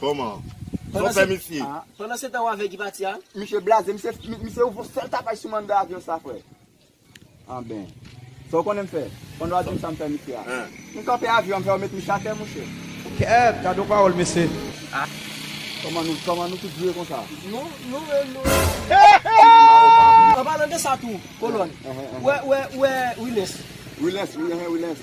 Koman? Son pè misye? Pandan se tan wa vè ki pati a? Misye blaze, misye ouvri yon sèl tapaj sou m anndan avyon sa frè. Anben. Sa w konnen m fè? Pandan w ap di m sa m fè misye a. M kanpe avyon an m fè yo met misye atè mouche. Kèèt, gade yon pawòl mesye. Koman nou, koman nou tout vire konsa? Nou, nou menm nou. Anpalan de sa tou, kolonn. Ou wè, ou wè, ou wè Wilens? Wilens, wi, wi, Wilens.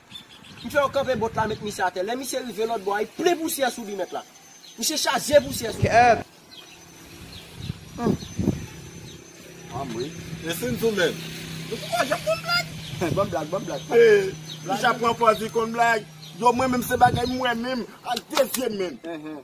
M fè yo kanpe bot la met misye atè lè misye rive lòt bò a li plen pousyè sou li mèt la misye chaje pousyè sou li. E si n tou menm? Nou tou pa janm konn blag. Banm blag banm blag pa gen Misye ap pran pòz li konn blag. Yo mwen menm se bagay mwen menm ak de zye m menm.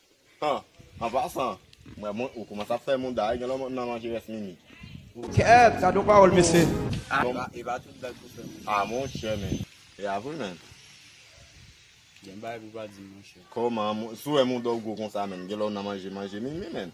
An pasan, mwen bon ou koumanse ap fè mouda wi gen lè w mèt nan manje rès mimi. Kèèt, gadon pawòl mesye! E pa tout blag pou fè moun sa. A monchè men, e a vre menn. Gen bagay pou pa di monchè. Kòman, sou wè mouda w gwo konsa menn, gen lè w nan manje manje mimi menn.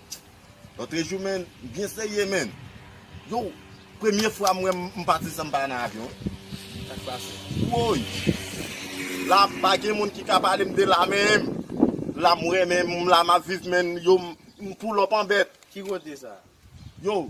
Lotre jou menn m byen serye menn. Yow premye fwa m wè m pati san m pa nan avyon. Sak pase? Woy! La pa gen moun ki ka pale m de la menm. La m renmen m la m ap viv menn. Yow m poulòp an bèt. Ki kote sa? Yow!